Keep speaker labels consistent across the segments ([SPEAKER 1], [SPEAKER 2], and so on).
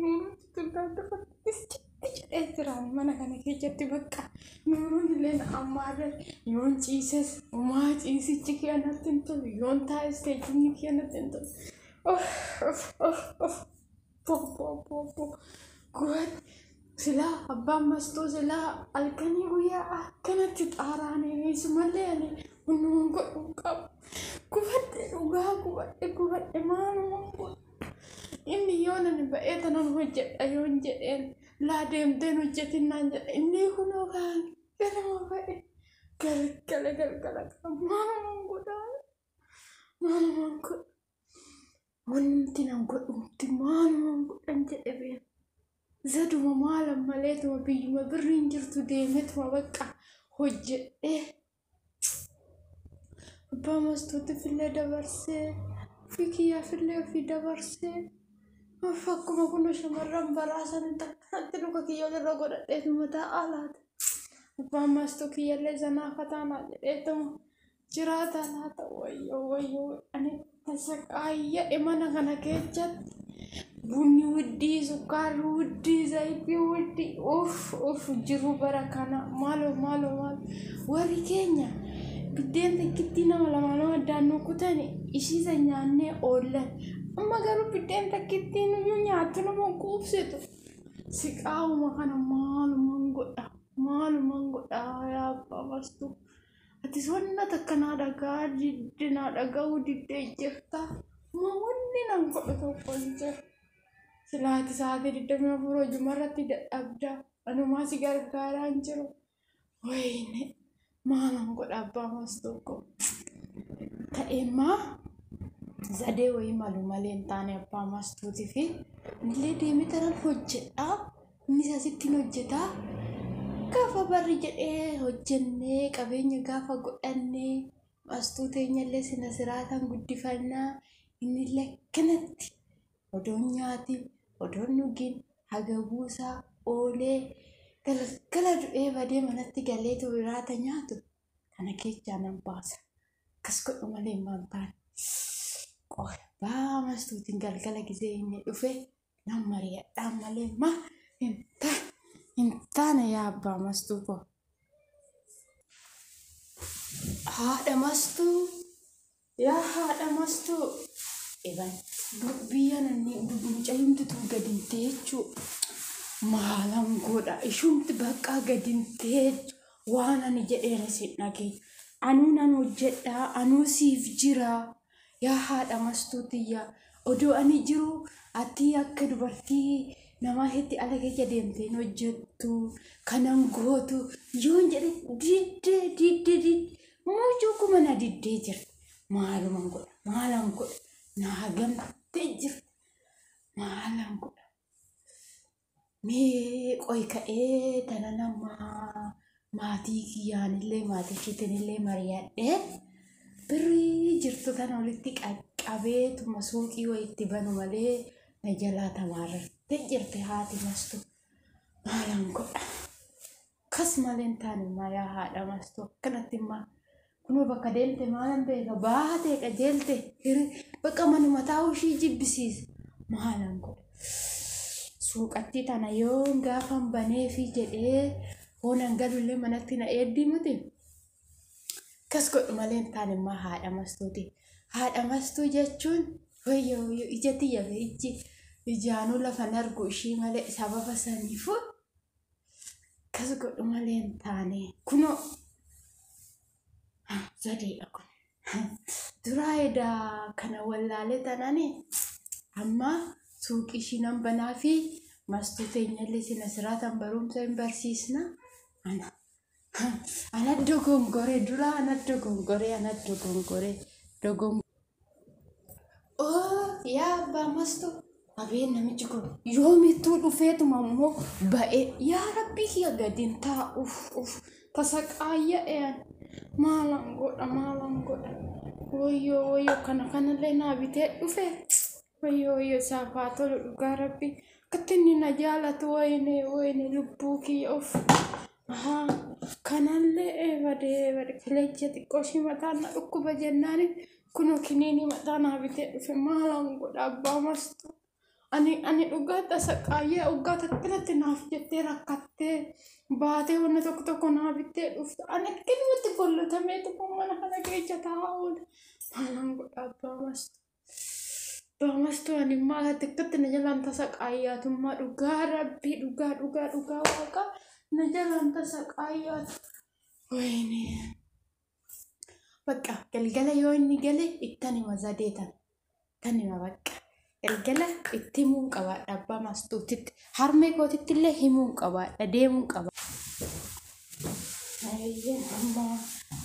[SPEAKER 1] Nuuruutti tullaan dhufa iskatti jedhee jira mana kana keessatti bakka nuuruun illee na ammaarre yoon ciises umaa ciisichi kee natti hin tolu yoon taa'es teessumni kee natti hin tolu. Of of of of bobbo bobbo gooti silaa abbaan mastuu silaa halkanii guyyaa akkanatti xaaraanii sumallee ani hundumaan godhu hin qabu. Gubadhe dhugaa gubadhe gubadhe maalumaan godhu. Inni yoo nani ba'ee tanan hojjedha yoon jedheen laa deemteen hojjetin naan jedha inni kunoo kaan ganama ba'e galgala galgala kan maalumaan godhaa maalumaan godha wanti nan godhumti maalumaan godhan jedhe bee zaduma maalan maleetuma biyyuma birriin jirtu deemetuma bakka hojjedhee Abbaa mastuutti fillee dabarsee ofii kiyyaa fillee ofii dabarsee of akkuma kun shamarran baraa sanitti akkanatti luka kiyya olirra godhadheetu mataa alaati. Abbaan mastuu kiyyallee zanaa fataa naa jedheetuma jiraata laata wayyoo wayyoo ani Tasaqaayya imana kana keessatti bunni wuddii, sukkaarri wuddii, zayitii wuddii, uff uff jiru bara kana maaloo maaloo maaloo warri keenya biddeen takkittii nama lama nama addaan nu kutani ishii san nyaannee oollan. Amma garuu biddeen takkittii nuyyuu nyaattu nama quubsitu. Siqaawuma kana maaluman godha maaluman godha yaa abbaa bastu. Atis wanna takka naa dhagaa didde naa dhaga'uu diddee jirta. Ma wanni nan godhu tokko hin jiru. Silaa ati sa'aatii 24 hojuma irratti dadhabda. Anumaa si gargaaraa hin jiru. Wayne maa nan godha abbaa maas tokko. Ta'ee maa zadee wayii malu malee hin taane abbaa maas tuuti fi illee deemee tanan hojjedhaa. Innis asitti ni hojjeta. Gaafa barri jedhee hojjennee qabeenya gaafa godhannee astuu teenyallee sina siraataan guddifannaa inni lakkanatti odoon nyaatiin odoon dhugiin haga buusaa oolee galgala du'ee badee manatti galee tubiraata nyaatu kana keechaa nan baasa. Akkas godhu malee maal taane. Qofa baa mastuutiin galgala gisee inni dhufe Nan mari'adhaa malee ma hin ta hin taane yaa abbaa mastuu koo. Haadha mastuu yaa haadha mastuu iban biyya nanni mucayyumti tun gadinte jechuu maalan godha ishumti baqqaa gadinte waan ani jedheeras hin dhageenye anuu nan hojjedhaa anuu siif jiraa yaa haadha mastuu tiyya odoo ani jiru ati akka dubartii namaa hetti ala keessa deemte hin hojjettu kanan gootu yoon jedhe diddee diddee diddee mucuu kuma na diddee jira maaluman godha maalan godha naa gamtee jira maalan godha Mee qoy ka'ee tana nama maatii kiyyaanillee maatii ishiitinillee mari'adhee birrii jirtu tana walitti qaqqabee tuma suuqii wayi itti banu malee na jalaa tamaararte jirti haati mastu maalaan godha. Kas malee hin taane maa yaa haadha maastuu akkanatti immaa kunoo bakka deemte maalan beeka baatee qajeelte hiri bakka manuma taa'uu ishii jibbisiisa maalan godha suuqattii tana yoon gaafan baneefi jedhee hoonan galullee manatti na eeddii miti kas godhu malee hin taane immaa haadha mastuuti haadha mastuu jechuun wayyo wayyo ija tiyya ijji ijaanuu lafan argu ishii malee sababa saniifuu Akkas godhu malee hin taane. Kunoo zadeedha kun. Duraa edaa kana wallaalee tanani amma suuqii ishii nan banaa fi mastuu teenyallee sina siraatan barumsa hin barsiisna. Ana Ana dogongore dura ana dogongore ana dogongore dogong Oh yaa abbaa mastu abeen namichi kun yoomittuu dhufeetuma immoo ba'ee yaa rabbii kiyya gadiin taa uf uf tasa qaayya eeyan maalan godha maalan godha woyyoo woyyoo kana kanallee naa bitee dhufe Wayyoo wayyoo isaaf haa tolu dhugaa rabbi akkatti inni na jaalatu wayine wayine lubbuu kiyya of ahaa kanallee eebadee bade kilecha xiqqoo ishii mataan na dhukkuba jennaani kunoo kiniinii mataa naa bitee dhufe maalaan godha abbaa mastu ani ani dhugaa tasa qaayyee oggaa takkanatti naaf jettee rakkattee baatee wanna tokko tokko naa bittee dhufte ani akkanumatti gollotamee tokko mana kana keessa taa'aa oole maalaan godha abbaa mastu Baamastuu ani immoo akka xiqqatti na jalaan tasa qaayyaatummaa dhugaa rabbii dhugaa dhugaa dhugaa waaqa na jalaan tasa qaayyaatu. Wayne. Bakka galgala yoo inni gale ittan hima zadeetan. Tan hima bakka. Galgala itti himuun qabaadha abbaa maastuutitti. Harmee kootitti illee himuun qabaadha deemuun qaba. Ayyeen amma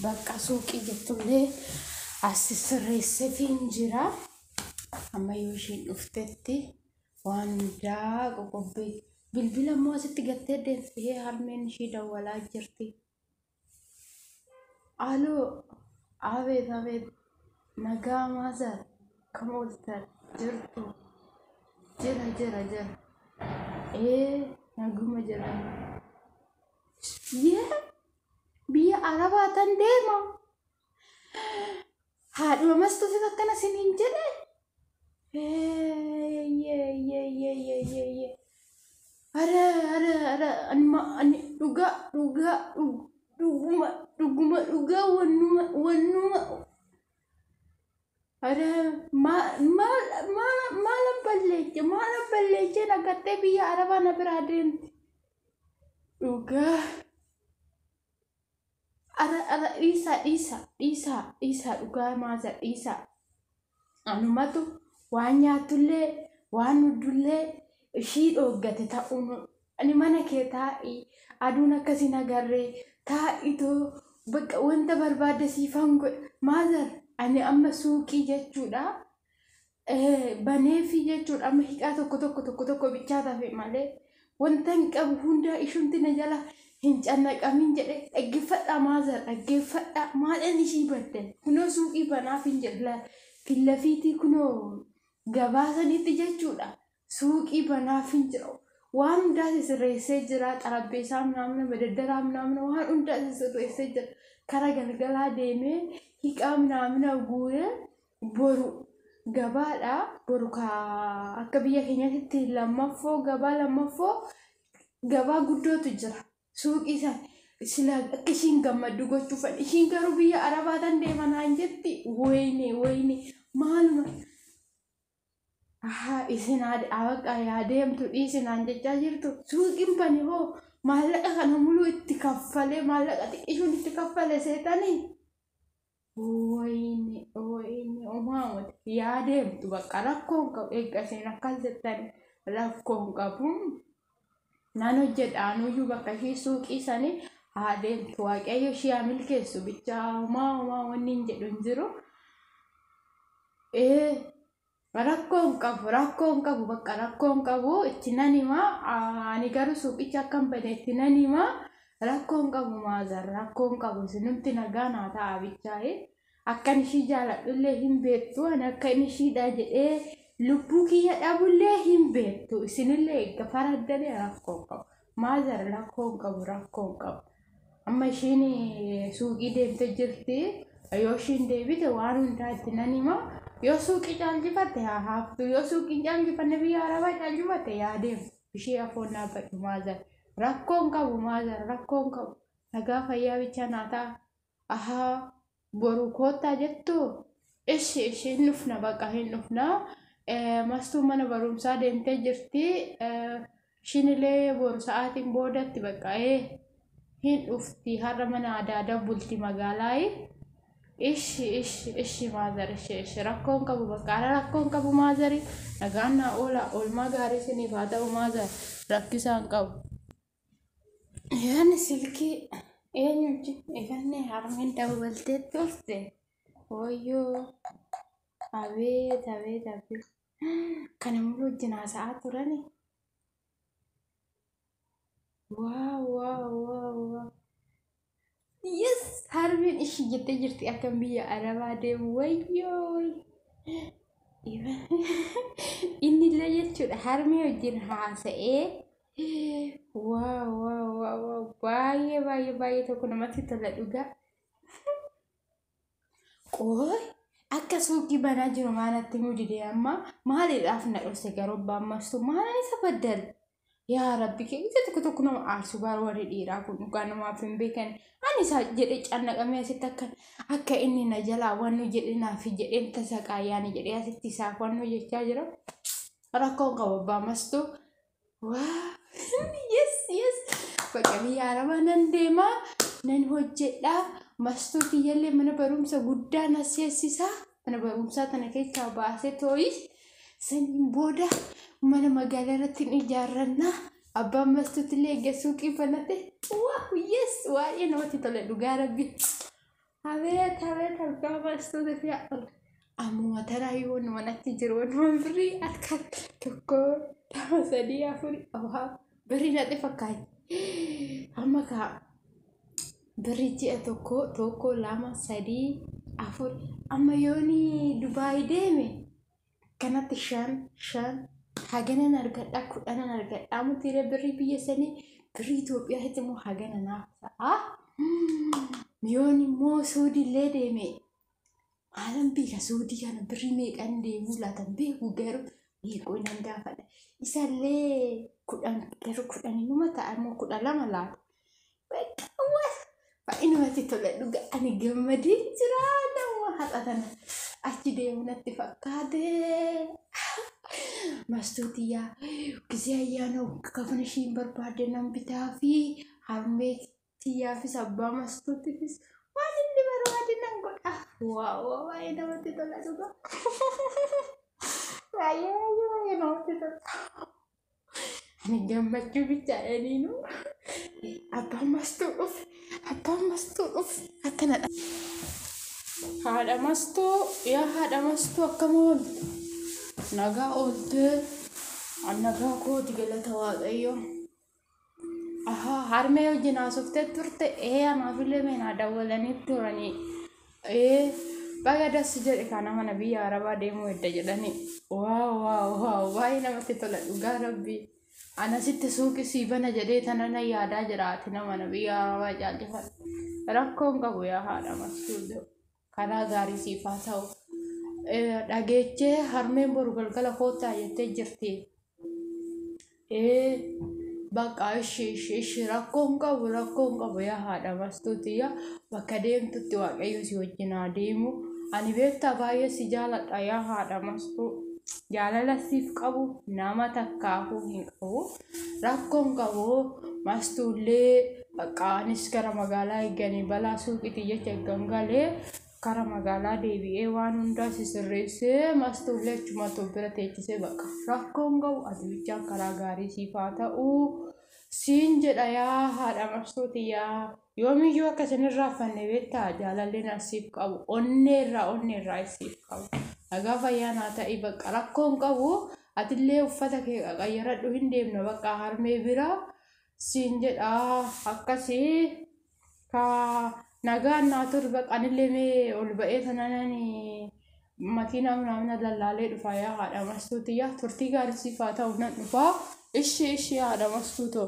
[SPEAKER 1] bakka suuqii jettullee as sirreesseefiin jira. Amma yoo ishiin dhuftetti waan hundaa qoqobbii bilbila immoo asitti gattee deemtee harmeen ishii dawwalaa jirti. Aloo abeet abeet nagaa maazar kam ooltan jirtu jira jira jira ee naguma jira yee biyya arabaa tan deema Haadhuma mastuutis akkana sin hin jedhe. Ara ara ara anuma ani dhugaa dhugaa dhug- dhuguma dhuguma dhugaa wannuma wannuma ara maal maal maal maal balleeche maal balleeche nagattee biyya arabaa na biraa deemte dhugaa. Ara ara dhiisaa dhiisaa dhiisaa dhiisaa dhugaa maaza dhiisaa. Anumatu waan nyaatullee waan dhugdullee ishii dhooggate ta'uun ani mana kee taa'ii aduun akkasii nagarree taa'itoo bakka wanta barbaadde siifan godha maazar ani amma suuqii jechuudha baneefii jechuudha amma hiqaa tokko tokko tokko tokko bichaa tafe malee wantan qabu hundaa ishumti na jala hin cannaqamin jedhe dhaggeeffadhaa maazar dhaggeeffadhaa maadhan ishii baddan kunoo suuqii banaaf hin jedhe fillafiitii kunoo gabaasanitti jechuudha suuqii banaafin jira waan hundaa sisirreessee jira xarabbeessaa minaamina madaddaraa minaamina waan hundaa sisirreessee jira kara galgalaa deemee hiqaa minaamina guure boru gabaadha boru akka biyya keenyatti lammaffoo gabaa lammaffoo gabaa guddootu jira suuqii san sila akka ishiin gammaddu gochuufan ishiin garuu biyya arabaatan deemanaan jetti wayne wayne maaluma Ahaa isin haadha abaqaa yaa deemtu dhiisi naan jechaa jirtu suuqiin bane hoo maallaqa kana muluu itti kaffalee maallaqa xiqqishuun itti kaffale seetanii wayne wayne umaamati yaa deemtu bakka rakkoon qabu eegga isin akkas jettanii rakkoon qabu Nan hojjedha anuyyuu bakka ishii suuqii sani haa deemtu waaqayyo ishii haa milkeessu bichaa homaa homaa wanni hin jedhu hin jiru. Ee rakkoo hin qabu rakkoo hin qabu bakka rakkoo hin qabu itti nan himaa Aa, ani garuu suuqicha akka hin bane itti nan himaa rakkoo hin qabu maazar rakkoo hin qabu sinumti nagaa naa ta'a bichaa'ee. Akkan ishii jaaladhullee hin beektu, ani akkan ishiidha jedhee lubbuu kiyya dhabullee hin beektu. Isinillee eegga faraddanii rakkoo hin qabu. Maazar rakkoo hin qabu, rakkoo hin qabu. Amma ishiin eh, suuqii deemte jirti. Yoo ishiin deebite waan hundaa itti nan hima. Yoo suuqii caalchifatte haa haaftu. Yoo suuqii hin caalchifanne biyya arabaa caalchifatte yaa deemtu. Ishii afoon dhaabbadhu maazar. Rakkoo hin qabu maazar, rakkoo hin qabu. Nagaa fayyaa bichaa naa ta'a. Ahaa boruu koottaa jettuu? Ishi ishi hin dhufna baqa hin dhufna. Mastuun mana barumsaa deemtee jirti. Shinilee boru sa'aatiin boodatti baqa ee hin dhufti har'a mana adaada bulti magaalaayi. Ishi ishi ishi maazar ishi ishi rakkoon qabu baqa ara rakkoon qabu maazari nagaan naa oola oolmaa gaarii siniif haa ta'u maazar rakkisaan qabu. Yaani silkii eenyu wajjin ifannee harmeen dawwaltee turte wayyoo abeet abeet abeet kana immoo wajjin haasa'aa turani waa waa waa waa Yes! Harmeen ishii jettee jirti akka biyya arabaa deemu wayyoo. Inni illee jechuudha harmee wajjin haasa'ee waa waa waa waa baay'ee baay'ee baay'ee tokko namatti tola dhugaa. Qooy akka suuqii banaa jiru maalatti himuu didee amma maaliidhaaf na dhofse garuu abbaan martuu maalan isa baddale yaa rabbi keenya tokko tokko nama aarsu baar warri dhiiraa kun dhugaa namaaf hin beekan ani isaa jedhee cannaqamee asitti akka akka inni na jalaa wannu jedhe naaf jedheen tasaqaa yaani jedhee asitti isaaf wannu jechaa jira rakkoon qabu abbaa mastuu yes yes bakka biyya arabaa nan deema nan hojjedha mastuu kiyyallee mana barumsa guddaa na seessisa mana barumsaa tana keessaa baasee tooyi saniin booda mana magaalaa irratti ni ijaarranna abbaan mastuutillee eegga suuqii banate waa yes waa'ee namatti tola dhugaa rabbi Abeet abeet argaa baastoota fi haadhoota. Ammuma taraa yoo nu manatti jiru waan birrii harka tokko lama sadii afur awaa birrii natti fakkaate. Amma kaa birrii ji'a tokko tokko lama sadii afur amma yooni Dubaay deeme akkanatti shan shan haganan argadha kudhanan argadha mutiire birrii biyya sanii birrii Itoophiyaatti immoo hagana naaf ta'a. Miyoon immoo suudiillee deeme maalan beeka suudii kana birrii meeqan deemuu laatan beeku garuu meeqoo nan gaafadha. Isallee kudhan garuu kudhan inuma ta'a immoo kudha lama laata. Baay'inumatti tola dhugaa ani gammadee jira nama haadha tana achi deemu natti fakkaate. Mastuutiyyaa gisee ayyaana kafana ishiin barbaadde nan bitaa fi harmee tiyyaafis abbaa mastuutifis waan inni barbaade nan godha. Waa waa baay'ee namatti tola dhugaa. Baay'ee baay'ee baay'ee namatti tola. gammachuu bichaadhaniinu abbaan mastuu dhufe abbaan mastuu dhufe akkana dha. Haadha mastuu yaa haadha mastuu akkam ooltu nagaa ooltee nagaa kooti galata waaqayyoo Ahaa, harmee wajjin haasoftee turte ee anaafillee meenaa dawwalanii turanii ee baga dassi jedhe kana mana biyya arabaa deemuu edda jedhanii waaw waaw waaw baay'ee namatti tola dhugaa rabbii anasitti suuqi sii bana jedhee tanana yaadaa jiraati nama na biyya arabaa caalchifan rakkoon qabu yaa haadha masuudoo. Karaa gaarii siif haa ta'u. Eh, Dhageechee harmeen boru galgala koottaa jettee jirti. Eh, Bakka ishi ishi ishi rakkoo hin qabu rakkoo hin qabu yaa haadha bastuuti yaa bakka deemtutti waaqayyo si wajjin haa deemu. Ani beektaa baay'ee si jaaladha yaa haadha mastuu. Jaalala siif qabu nama takkaafuu hin qabu. rakkoon qabu mastuullee bakka anis gara magaalaa eeganii balaa suuqiti jecha eeggan galee kara magaalaa deebi'ee waan hundaa sisirreessee mastuullee achuma too bira teechisee bakka rakkoon qabu ati bichaan karaa gaarii siif haa ta'u siin jedha yaa haadha mastuuti yaa Yoomiyyuu akka isin hin raaffanne beektaa jaalalli na siif qabu onnee irraa onnee irraa siif qabu. Nagaa fayyaa naa ta'i bakka rakkoon qabu atillee uffata kee qaqayyaradhu hin deemna bakka harmee bira siin jedha akkasii ka nagaan naa turi bakka anillee mee ol ba'ee sananani makiinaa manaamina lallaalee dhufaa yaa haadha mastuuti yaa turtii gaarii siif haa ta'u nan dhufaa ishii ishii haadha mastuutoo.